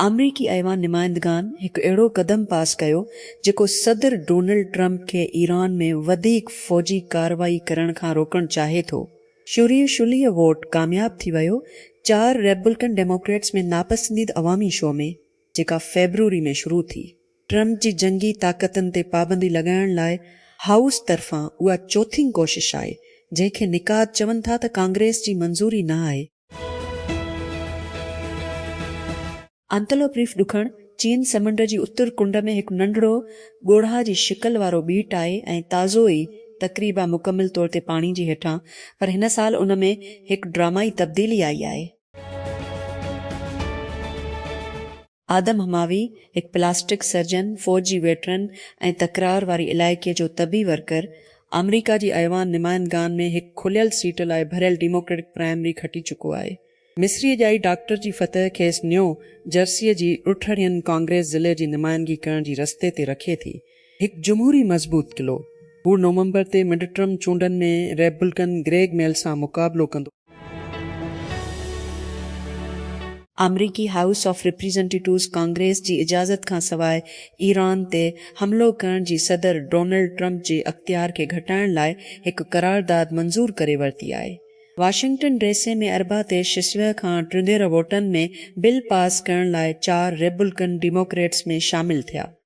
آمريڪي ايوان نمائندگان هڪ اهڙو قدم پاس ڪيو جيڪو صدر ڊونلڊ ٽرمپ کي ايران ۾ وڌيڪ فوجي ڪارروائي ڪرڻ کان روڪڻ چاهي ٿو. شوريه شليه ووٽ ڪامياب ٿي ويو، چار ريپبلڪن ڊيموڪريٽس ۾ ناپسنديد عوامي شو ۾ جيڪا فيبروري ۾ شروع ٿي. ٽرمپ جي جنگي طاقتن تي پابندي لڳائڻ لاء هائوس طرفان اها چوٿين ڪوشش آهي، جنهن کي نقاد چون ٿا ته ڪانگريس جي منظوري نه آهي. انتلوپ ريف ڏکڻ چين سمنڊ جي اتر ڪنڊ ۾ هڪ ننڍڙو، ڳوڙها جي شڪل وارو ٻيٽ آهي ۽ تازو ئي تقريبا مڪمل طور تي پاڻي جي هيٺان، پر هن سال ان ۾ هڪ ڊرامائي تبديلي آئي آهي. آدم هماوي، هڪ پلاسٽڪ سرجن، فوج جي ويٽرن ۽ تڪرار واري علائقي جو طبي ورڪر، آمريڪا جي ايوان نمائندگان ۾ هڪ کليل سيٽ لاء ڀريل ڊيموڪريٽڪ پرائمري کٽي چڪو آهي. مصري ڄائي ڊاڪٽر جي فتح کيس نيو جرسيء جي ڏٺڙين ڪانگريس ضلعي جي نمائندگي ڪرڻ جي رستي تي رکي ٿي. هڪ جمهوري مضبوط قلعو، هو نومبر تي مڊٽرم چونڊن ۾ ريپبلڪن گريگ ميل سان مقابلو ڪندو. آمريڪي هائوس آف ريپريزنٽيٽوز ڪانگريس جي اجازت کان سواء ايران تي حملو ڪرڻ جي صدر ڊونلڊ ٽرمپ جي اختيار کي گهٽائڻ لاء هڪ قرارداد منظور ڪري ورتي آهي. واشنگٽن ڊي سي ۾ اربع تي شسويهه کان ٽنهيره ووٽن ۾ بل پاس ڪرڻ لاء چار ريبلڪن ڊيموڪريٽس ۾ شامل ٿيا.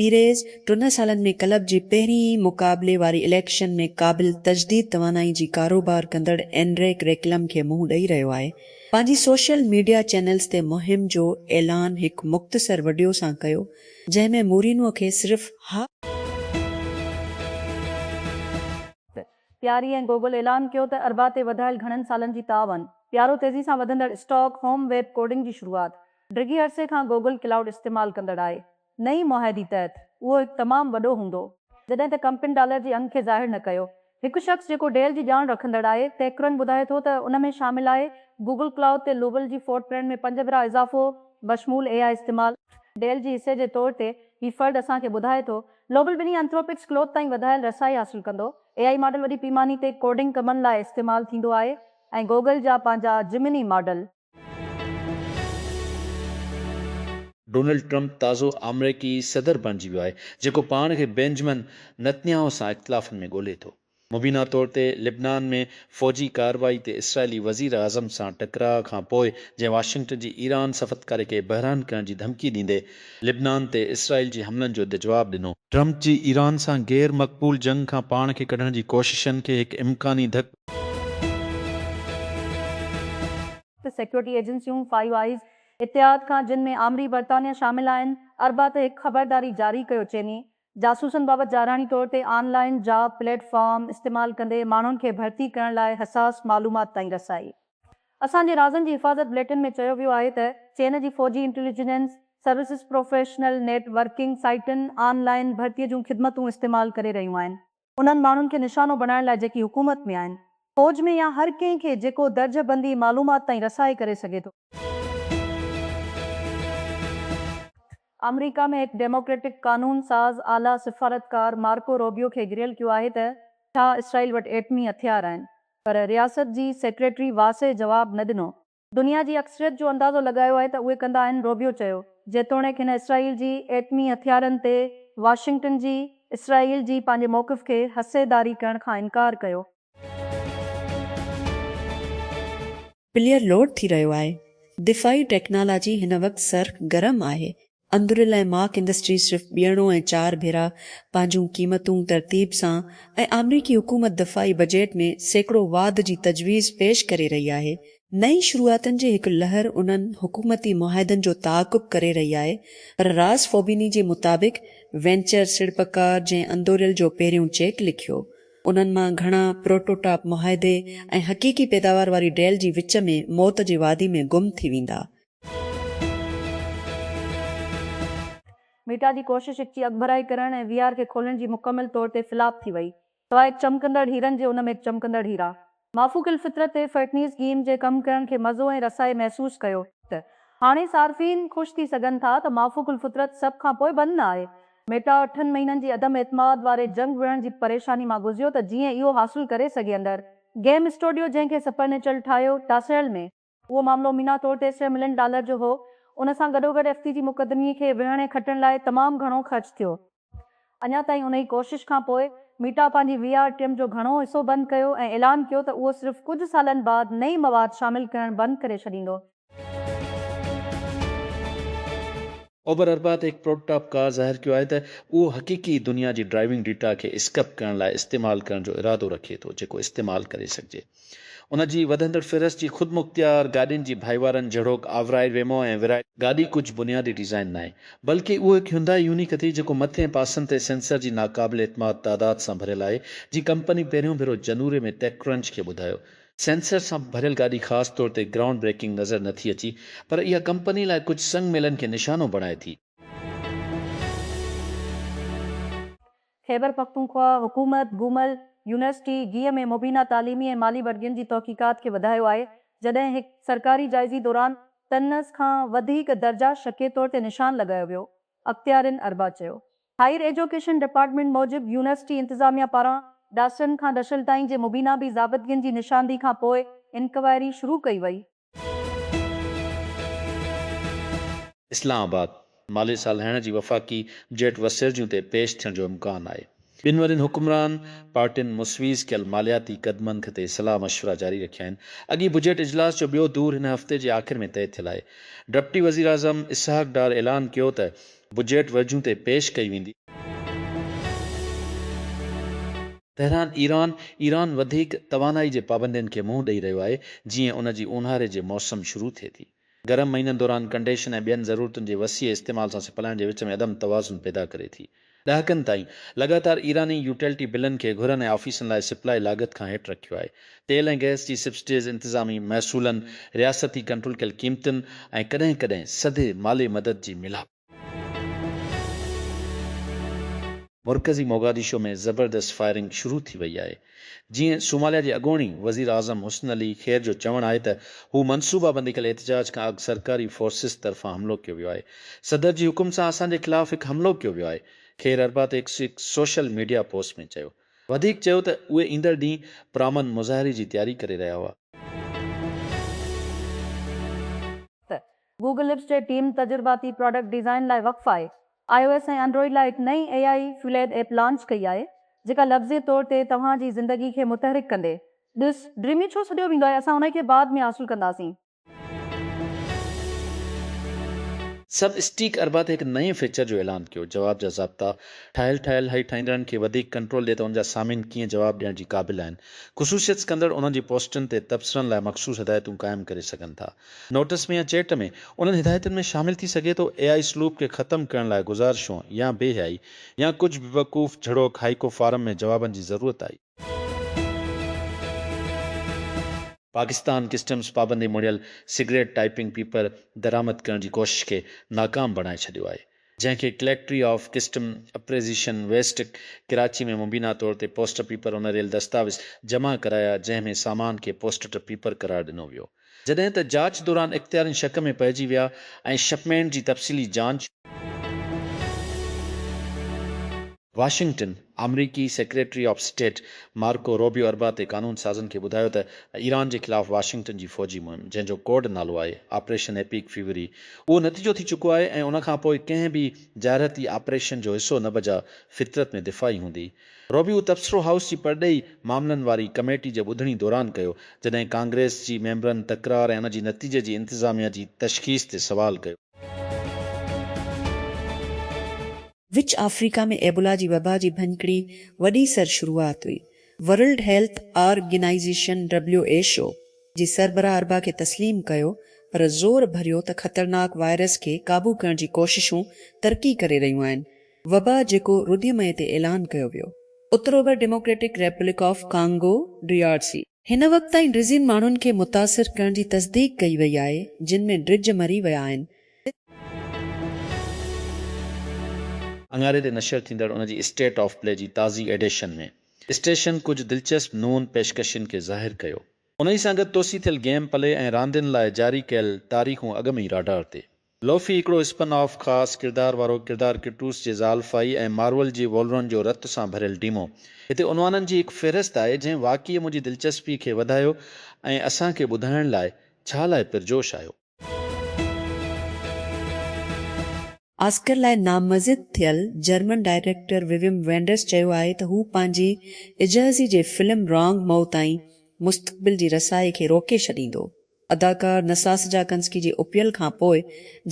پيريز ٽن سالن ۾ ڪلب جي پهرين ئي مقابلي واري اليڪشن ۾ قابل تجديد توانائي جي ڪاروبار ڪندڙ اينريڪ ريڪلم کي منهن ڏئي رهيو آهي. پنهنجي سوشل ميڊيا چينلز تي مهم جو اعلان هڪ مختصر وڊيو سان ڪيو جنهن ۾ مورينو کي صرف ه. پياري ۽ گوگل اعلان ڪيو ته اربع تي وڌايل گهڻن سالن جي تعاون پيارو تيزي سان وڌندڙ اسٽاڪ هوم ويب ڪوڊنگ جي شروعات ڊگهي عرصي کان گوگل ڪلائوڊ استعمال ڪندڙ آهي نئين معاهدي تحت اهو هڪ تمام وڏو هوندو، جڏهن ته ڪمپن ڊالر جي انگ کي ظاهر نه ڪيو. هڪ شخص جيڪو ڊيل جي ڄاڻ رکندڙ آهي، تيڪرن ٻڌائي ٿو ته ان ۾ شامل آهي گوگل ڪلائوڊ تي لوول جي فوٽ پرنٽ ۾ پنج ڀيرا اضافو، بشمول اي آء استعمال. ڊيل جي حصي جي طور تي هي فرد اسان کي ٻڌائي ٿو، لوول ٻنهي انٿروپڪس ڪلوٿ تائين وڌايل رسائي حاصل ڪندو. اي آء ماڊل وڏي پيماني تي ڪوڊنگ ڪمن لاء استعمال ٿيندو آهي ۽ گوگل جا پنهنجا جمني ماڊل، ڊونلڊ ٽرمپ تازو آمريڪي صدر بڻجي ويو آهي، جيڪو پاڻ کي بينجمن نتنياهو سان اختلافن ۾ ڳولي ٿو. مبينا طور تي لبنان ۾ فوجي ڪارروائي تي اسرائيلي وزيراعظم سان ٽڪراء کان پوء جنهن واشنگٽن جي ايران سفتڪاري کي بحران ڪرڻ جي ڌمڪي ڏيندي لبنان تي اسرائيل جي حملن جو دجواب ڏنو، ٽرمپ جي ايران سان غير مقبول جنگ کان پاڻ کي ڪڍڻ جي ڪوششن کي هڪ امڪاني ڌڪ ته سيڪيورٽي ايجنسيون، فائيو آئيز، اتحاد کان جن ۾ آمري برطانيا شامل آهن، اربع تي هڪ خبرداري جاري ڪيو چيني جاسوسن بابت جارحاڻي طور تي online job platform استعمال ڪندي ماڻهن کي ڀرتي ڪرڻ لاء حساس معلومات تائين رسائي. اسان جي رازن جي حفاظت بليٽن ۾ چيو ويو آهي ته چين جي فوجي intelligence services professional networking سائيٽن آن لائين ڀرتي جون خدمتون استعمال ڪري رهيون آهن انهن ماڻهن کي نشانو بڻائڻ لاء جيڪي حڪومت ۾ آهن، فوج ۾ يا هر ڪنهن کي جيڪو درجه بندي معلومات تائين رسائي ڪري سگهي ٿو. آمريڪا ۾ هڪ ڊيموڪريٽڪ قانون ساز اعليٰ سفارتڪار مارڪو روبيو کي گهريل ڪيو آهي ته ڇا اسرائيل وٽ ايٽمي هٿيار آهن پر رياست جي سيڪريٽري واسع جواب نه ڏنو. دنيا جي اڪثريت جو اندازو لڳايو آهي ته اهي ڪندا آهن، روبيو چيو. جيتوڻيڪ هن اسرائيل جي ايٽمي هٿيارن تي واشنگٽن جي اسرائيل جي پنهنجي موقف کي حصيداري ڪرڻ کان انڪار ڪيو. پليئر لوڊ ٿي رهيو آهي. دفاعي ٽيڪنالاجي هن وقت سر گرم آهي، اندر لاء ماڪ انڊسٽريز صرف ٻيڻو ۽ چار ڀيرا پنهنجون قيمتون ترتيب سان ۽ آمريڪي حڪومت دفاعي بجيٽ ۾ سيڪڙو واڌ جي تجويز پيش ڪري رهي آهي. نئين شروعاتن جي هڪ لهر انهن حڪومتي معاهدن جو تعاقب ڪري رهي آهي پر راس فوبيني جي مطابق وينچر سيڙپڪار جنهن اندوريل جو پهريون چيڪ لکيو انهن مان گهڻا پروٽوٽاپ معاهدي ۽ حقيقي پيداوار واري ڊيل جي وچ ۾ موت جي وادي ۾ گم ٿي ويندا ميٽا جي ڪوشش هڪ جي اڳڀرائي ڪرڻ ۽ وي آر کي کولڻ جي مڪمل طور تي فلاپ ٿي وئي. سواء هڪ چمڪندڙ هيرن جي ان ۾ هڪ چمڪندڙ هيرا. مافوق الفطرت تي فرٽنيز گيم جي ڪم ڪرڻ کي مزو ۽ رسائي محسوس ڪيو ته هاڻي صارفين خوش ٿي سگهن ٿا ته مافوق الفطرت سڀ کان پوء بند نه آهي. ميٽا اٺن مهينن جي عدم اعتماد واري جنگ وڙهڻ جي پريشاني مان گذيو ته جيئن اهو حاصل ڪري سگهي اندر گيم اسٽوڊيو جنهن کي سپرنيچل ٺاهيو ٽاسيل ۾ اهو معاملو مينا طور ٽي سئو ملين ڊالر جو هو. ان سان گڏوگڏ ايف سي جي مقدمي کي وڙهڻ ۽ کٽڻ لاء تمام گهڻو خرچ ٿيو. اڃا تائين انهي ڪوشش کان پوء ميٽا پنهنجي وي آر ٽيم جو گهڻو حصو بند ڪيو ۽ اعلان ڪيو ته اهو صرف ڪجهه سالن بعد نئين مواد شامل ڪرڻ بند ڪري ڇڏيندو. اوبر اربع تي هڪ پروٽوٽائپ ڪار ظاهر ڪيو آهي ته اهو حقيقي دنيا جي ڊرائيونگ ڊيٽا کي اسڪپ ڪرڻ لاء استعمال ڪرڻ جو ارادو رکي ٿو جيڪو استعمال ڪري سگهجي. ان جي وڌندڙ فهرست جي خودمختيار گاڏين جي ڀائيوارن جهڙوڪ آورائي ويمو ۽ ورائي. گاڏي ڪجهه بنيادي ڊيزائن ناهي بلڪ اهو هڪ هيونڊائي يونيڪ اٿئي جيڪو مٿي ۽ پاسن تي سينسر جي ناقابل اعتماد تعداد سان ڀريل آهي جي ڪمپني پهريون ڀيرو جنوري ۾ ٽيڪ ڪرنچ کي ٻڌايو. سينسر سان ڀريل گاڏي خاص طور تي گرائونڊ بريڪنگ نظر نه ٿي اچي پر اها ڪمپني لاء ڪجهه سنگ ميلن کي نشانو بڻائي ٿي. خيبر پختونخواهه حڪومت گومل يونيورسٽي، گيهه ۾ مبينا تعليمي ۽ مالي وڏگين جي تحقيقات کي وڌايو آهي، جڏهن هڪ سرڪاري جائزي دوران طنز کان وڌيڪ درجا شڪي طور تي نشان لڳايو ويو، اختيارين اربع چيو. هائير ايجوڪيشن ڊپارٽمينٽ موجب يونيورسٽي انتظاميا پاران ڊاسرن کان ڊشل تائين جي مبينا بي ضابطگين جي نشاندهي کان پوء انڪوائري شروع ڪئي وئي، اسلام آباد، مالي سال هيڻ جي وفاقي بجيٽ وسيرجيون تي پيش ٿيڻ جو امڪان آهي، ٻن وڏين حڪمران پارٽين مسويز ڪيل مالياتي قدمن تي صلاح مشورا جاري رکيا آهن، اڳي بجيٽ اجلاس جو ٻيو دور هن هفتي جي آخر ۾ طئي ٿيل آهي، ڊپٽي وزيراعظم اسحاق ڊار اعلان ڪيو ته بجيٽ ورجيون تي پيش ڪئي ويندي. تهران، ايران، ايران وڌيڪ توانائي جي پابندين کي منهن ڏئي رهيو آهي، جيئن ان جي اونهاري جي موسم شروع ٿئي ٿي. گرم مهينن دوران ڪنڊيشن ۽ ٻين ضرورتن جي وسيع استعمال سان سپلائن جي وچ ۾ عدم توازن پيدا ڪري ٿي. ڏهاڪن تائين لڳاتار ايراني يوٽيلٽي بلن کي گهرن ۽ آفيسن لاء سپلائي لاڳت کان هيٺ رکيو آهي. تيل ۽ گئس جي سبسڊيز، انتظامي محصولن، رياستي ڪنٽرول ڪيل قيمتن ۽ ڪڏهن ڪڏهن سڌي مالي مدد جي ميلاپ، مرڪزي موگاديشو ۾ زبردست فائرنگ شروع ٿي وئي آهي. جيئن صوماليا جي اڳوڻي وزيراعظم حسن علي خير جو چوڻ آهي ته هو منصوبابندي ڪيل احتجاج کان اڳ سرڪاري فورسز طرفان حملو ڪيو ويو آهي. صدر جي حڪم سان اسان جي خلاف هڪ حملو ڪيو ويو آهي، خير اربع تي هڪ سوشل ميڊيا پوسٽ ۾ چيو. وڌيڪ چيو ته اهي ايندڙ ڏينهن پرامن مظاهري جي تياري ڪري رهيا هئا. گوگل لپس جي ٽيم تجرباتي پراڊڪٽ ڊيزائن لاء وقف آهي، آء او ايس ۽ انڊرائيڊ لاء هڪ نئين اي آئي فيوليد ايپ لانچ ڪئي آهي، جيڪا لفظي طور تي توهان جي زندگي کي متحرڪ ڪندي. ڏس، ڊريمي ڇو سڏيو ويندو آهي، اسان انهي کي بعد ۾ حاصل ڪنداسين. سب اسٽيڪ اربع تي هڪ نئين فيچر جو اعلان ڪيو، جواب جا ضابطا، ٺاهيل ٺاهيل هي ٺاهيندڙن کي وڌيڪ ڪنٽرول ڏئي ته ان جا سامعين ڪيئن جواب ڏيڻ جي قابل آهن. خصوصيت سڪندڙ انهن جي پوسٽن تي تبصرن لاء مخصوص هدايتون قائم ڪري سگهن ٿا. نوٽس ۾ يا چيٽ ۾ انهن هدايتن ۾ شامل ٿي سگهي ٿو اي آء سلوڪ کي ختم ڪرڻ لاء گذارشون يا بي حيائي يا ڪجهه بيوقوف جھڙوڪ هائيڪو فارم ۾ جوابن جي ضرورت آئي. پاڪستان ڪسٽمز پابندي مڙهيل سگريٽ ٽائپنگ پيپر درآمد ڪرڻ جي ڪوشش کي ناڪام بڻائي ڇڏيو آهي. جنهن کي collectorate of custom appraisement west Karachi ۾ مبينا طور تي پوسٽ پيپر اونريل دستاويز جمع ڪرايا جنهن ۾ سامان کي پوسٽٽ پيپر قرار ڏنو ويو جڏهن ته جاچ دوران اختيارين شڪ ۾ پئجي ويا ۽ شپمينٽ جي تفصيلي جانچ واشنگٽن، آمريڪي secretary of state Marco Rubio اربع تي قانون سازن کي ٻڌايو ته ايران جي خلاف واشنگٽن جي فوجي مهم، جنهن جو ڪوڊ نالو آهي آپريشن ايپيڪ فيوري، اهو نتيجو ٿي چڪو آهي ۽ ان کان پوء ڪنهن به جارحيتي آپريشن جو حصو نه بجا فطرت ۾ دفاعي هوندي. روبيو تبصرو هائوس جي پرڏيهي معاملن واري ڪميٽي جي ٻڌڻي دوران ڪيو، جڏهن ڪانگريس جي ميمبرن تڪرار ۽ ان جي نتيجي جي انتظاميا جي تشخيص تي سوال ڪيو. وچ آفريڪا ۾ ايبولا جي وبا جي ڀڃڪڙي وڏي سر شروعات هئي. ورلڊ هيلٿ آرگنائيزيشن، WHO، جي سربراهه اربع کي تسليم ڪيو پر زور ڀريو ته خطرناڪ وائرس کي قابو ڪرڻ جي ڪوششون ترقي ڪري رهيون آهن. وبا جيڪو رديء مئي تي اعلان ڪيو ويو. اتر اوڀر Democratic Republic of Congo, DRC، هن وقت تائين ڊزين ماڻهن کي متاثر ڪرڻ جي تصديق ڪئي وئي آهي، جن ۾ ڊڄ مري ويا آهن. اڱاري تي نشر ٿيندڙ ان جي اسٽيٽ آف پلي جي تازي ايڊيشن ۾ اسٽيشن ڪجهه دلچسپ نون پيشڪشين کي ظاهر ڪيو. انهي سان گڏ توسيع ٿيل گيم پلي ۽ راندين لاء جاري ڪيل تاريخون اڳ ۾ ئي راڊار تي لوفي هڪڙو اسپن آف خاص ڪردار وارو ڪردار ڪرٽوس جي زال فائي ۽ مارول جي وولورن جو رت سان ڀريل ڊيمو. هتي عنوانن جي هڪ فهرست آهي جنهن واقعي منهنجي دلچسپي کي وڌايو ۽ اسان کي ٻڌائڻ لاء ڇا لاء پرجوش آيو. آسڪر لاء نامزد ٿيل جرمن ڊائريڪٽر وويم وينڊرس چيو آهي ته هو پنهنجي اجهزي جي فلم رانگ مئو تائين مستقبل جي رسائي کي روڪي ڇڏيندو. اداڪار نساس جاڪنسڪي جي اپيل کان پوء،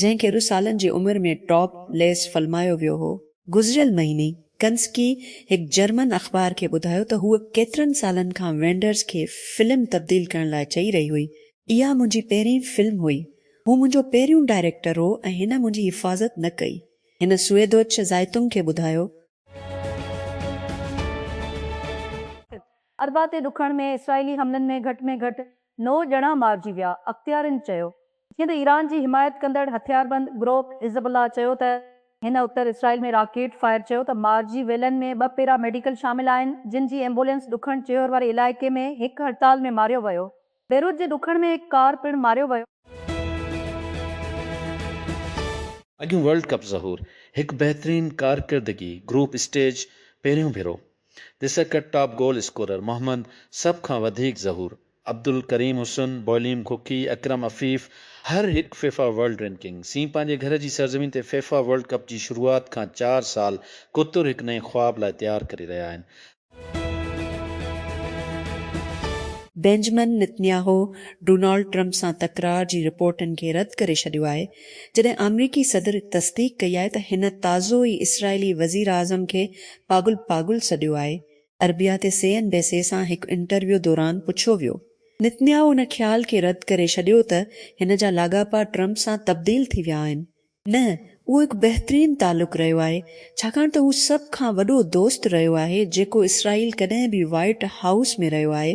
جنهن کي ارڙهن سالن جي عمر ۾ ٽاپ ليس فلمايو ويو هو، گذريل مهيني ڪنسڪي هڪ جرمن اخبار کي ٻڌايو ته هوء ڪيترن سالن کان وينڊرز کي فلم تبديل ڪرڻ لاء چئي رهي هئي، اها منهنجي پهرين فلم هئي، هو منهنجو پهريون ڊائريڪٽر هو ۽ هن منهنجي حفاظت نه ڪئي، هن سويدوچه زائتونگ کي ٻڌايو. اربع تي ڏکڻ ۾ اسرائيلي حملن ۾ گهٽ ۾ گهٽ نو ڄڻا مارجي ويا، اختيارين چيو. جيئن ته ايران جي حمايت ڪندڙ هٿياربند گروپ حزب الله چيو ته هن اتر اسرائيل ۾ راڪيٽ فائر چيو ته مارجي ويلن ۾ ٻه پيرا ميڊيڪل شامل آهن جن جي ايمبولينس ڏکڻ چيور واري علائقي ۾ هڪ هڙتال ۾ ماريو ويو بيروت جي ڏکڻ ۾ هڪ ڪار پڻ ماريو ويو. اڳيون ورلڊ ڪپ ظهور هڪ بهترين ڪارڪردگي گروپ اسٽيج پهريون ڀيرو the circuit top goal scorer محمد سڀ کان وڌيڪ ظهور عبدالڪريم حسن بوليم ڪوڪي اڪرم عفيف هر هڪ فيفا ورلڊ رينڪنگ سين پنهنجي گهر جي سرزمين تي فيفا ورلڊ ڪپ جي شروعات کان چار سال ڪوتر هڪ نئين خواب لاء تيار ڪري رهيا آهن بينجمن نتنياهو ڊونالڊ ٽرمپ سان تڪرار جي رپورٽن کي رد ڪري ڇڏيو آهي، جڏهن آمريڪي صدر تصديق ڪئي آهي ته هن تازو ئي اسرائيلي وزيراعظم کي پاڳل پاڳل سڏيو آهي. عربيه تي سي اين بي سي سان هڪ انٽرويو دوران پڇيو ويو، نتنياهو ان خيال کي رد ڪري ڇڏيو ته هن جا لاڳاپا ٽرمپ سان تبديل ٿي ويا آهن، نه، اهو هڪ بهترين تعلق رهيو آهي، ڇاڪاڻ ته هو سڀ کان وڏو دوست رهيو آهي، جيڪو اسرائيل ڪڏهن به وائيٽ هائوس ۾ رهيو آهي.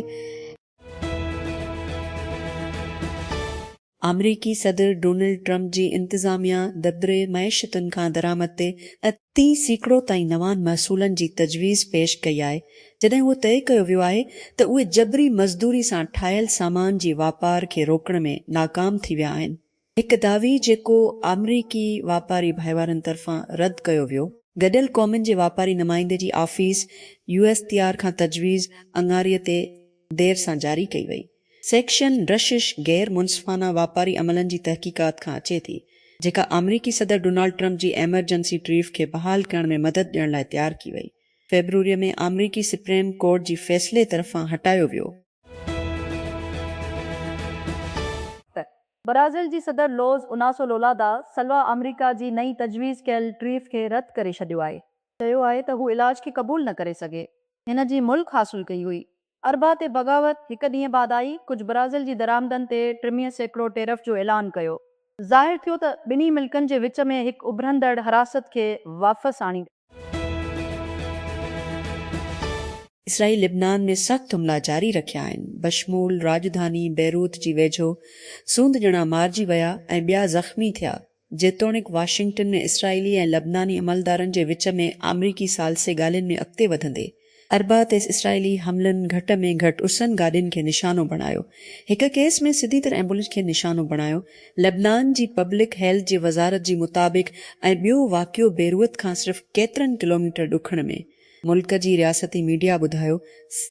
آمريڪي صدر ڊونلڊ ٽرمپ جي انتظاميا دبري معيشتن کان درآمد تي اتي سيڪڙو تائين نوان محصولن جي تجويز پيش ڪئي آهي، جڏهن اهو طئي ڪيو ويو آهي ته اهي جبري مزدوري سان ٺاهيل سامان جي واپار کي روڪڻ ۾ ناڪام ٿي ويا آهن. هڪ دعوي جيڪو آمريڪي واپاري ڀائيوارن طرفان رد ڪيو ويو. گڏيل قومن جي واپاري نمائندي جي office U S T R کان تجويز اڱاري تي دير سان جاري ڪئي وئي. سيڪشن رشش غير منصفانه واپاري عملن جي تحقيقات کان اچي ٿي، جيڪا آمريڪي صدر ڊونالڊ ٽرمپ جي ايمرجنسي ٽريف کي بحال ڪرڻ ۾ مدد ڏيڻ لاء تيار ڪي وئي. فيبروري ۾ آمريڪي سپريم ڪورٽ جي فيصلي طرفان هٽايو ويو. ته برازيل جي صدر لوز اناسو لولا دا سلوا آمريڪا جي نئين تجويز ڪيل ٽريف کي رد ڪري ڇڏيو آهي. چيو آهي ته هو علاج کي قبول نه ڪري سگهي. هن جي ملڪ حاصل ڪئي هئي. اربع تي بغاوت هڪ ڏينهن بعد آئي، ڪجهه برازيل جي درآمدن تي ٽرميهه سيڪڙو ٽيرف جو اعلان ڪيو. ظاهر ٿيو ته ٻنهي ملڪن جي وچ ۾ هڪ اڀرندڙ حراست کي واپس آڻيندي. اسرائيل لبنان ۾ سخت حملا جاري رکيا آهن، بشمول راڄڌاني بيروت جي ويجهو سوند ڄڻا مارجي ويا ۽ ٻيا زخمي ٿيا، جيتوڻيڪ واشنگٽن ۾ اسرائيلي ۽ لبناني عملدارن جي وچ ۾ آمريڪي ثالثي ڳالهين ۾ اڳتي وڌندي، اربع تي اسرائيلي حملن گهٽ ۾ گهٽ ارسن گاڏين کي نشانو بڻايو. هڪ ڪيس ۾ سڌي طرح ايمبولينس کي نشانو بڻايو. لبنان جي پبلڪ هيلٿ جي وزارت جي مطابق ۽ ٻيو واقعو بيروت کان صرف ڪيترن ڪلوميٽر ڏکڻ ۾. ملڪ جي رياستي ميڊيا ٻڌايو س.